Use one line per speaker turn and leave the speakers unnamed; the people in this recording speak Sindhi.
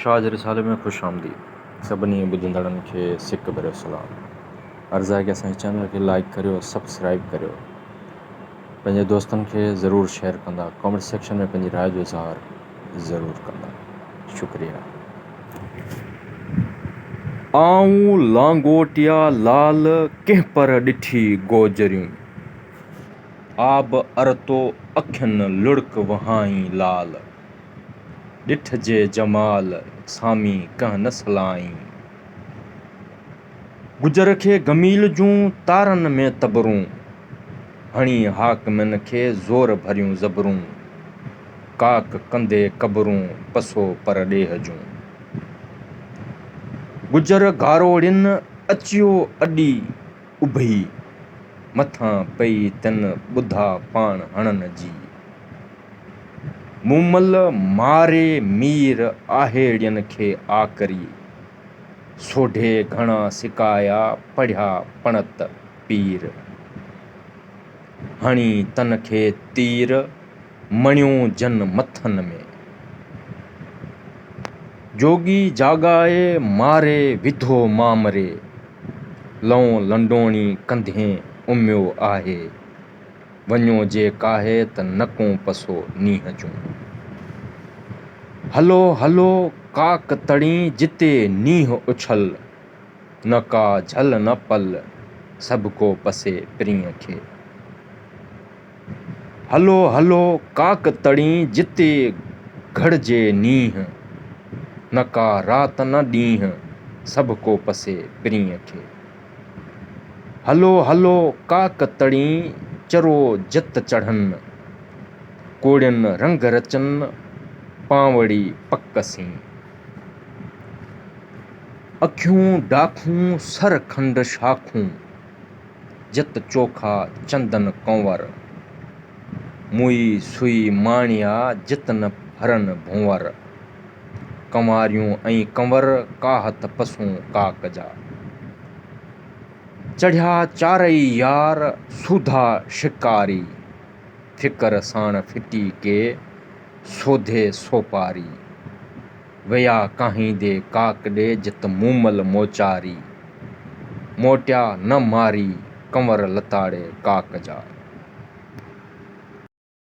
شاهه جي رسالي ۾ خوش آمديد. سڀني ٻڌندڙن کي سڪ ڀريو سلام. عرض آهي ڪي اسان جي چينل کي لائيڪ ڪريو سبسڪرائيب ڪريو پنهنجي دوستن کي ضرور شيئر ڪندا ڪامينٽ سيڪشن ۾ پنهنجي راء جو اظهار ضرور ڪندا شڪريا. آئون لانگوٽيا لال ڪنهن پر ڏٺي گوجريون آب ارتو اکين لڙڪ وهائين لال ڏٺ جي جمال سامي ڪنهن نه سلائين. گجر کي گميل جون تارن ۾ تبرون، هڻي حاڪمن کي زور ڀريون زبرون. ڪاڪ ڪندي قبرون پسو پر ڏيهه جون. گجر گاروڙين اچيو اڏي. اڀي مٿان پئي تن ٻڌا پاڻ هڻن جي. مون مل ماري مير آهيڙين کي آڪري. سوڍي گهڻا سڪايا پڙهيا پڻت پير. هڻي تن کي تير. مڻيون جن مٿن ۾، جوڳي جاڳائي ماري وڌو مامري، لئون لنڊوڻي ڪنڌين اميو آهي، وڃو جي ڪاهي ته نڪون پسو نينهن جون. هلو هلو ڪاڪ تڙين جتي نينهن اڇل، نه ڪا جهل نه پل سڀڪو پسي پرينء کي. هلو هلو ڪاڪ تڙين جتي گهڙجي نينهن، نه ڪا رات نه ڏينهن، سڀ ڪو پسي پرينء کي. هلو هلو ڪاڪ تڙين چرو جت چڙهن، ڪوڙين رنگ رچن، پانوڙي پڪ سين. اکيون ڊاکون سر کنڊ شاخون. جت چوکا چندن ڪنور، موئي سوئي ماڻيا جت نه ڦرن ڀونور. ڪنواريون ۽ ڪنور ڪاهت پسون ڪاڪ جا، چڙهيا چارئي يار سوڌا شڪاري. فڪر ساڻ ڦٽي ڪي سوڌي سوپاري. ويا ڪاهيندي ڪاڪ ڏي جت مومل موچاري، موٽيا نه ماري ڪنور لتاڙي ڪاڪ جا.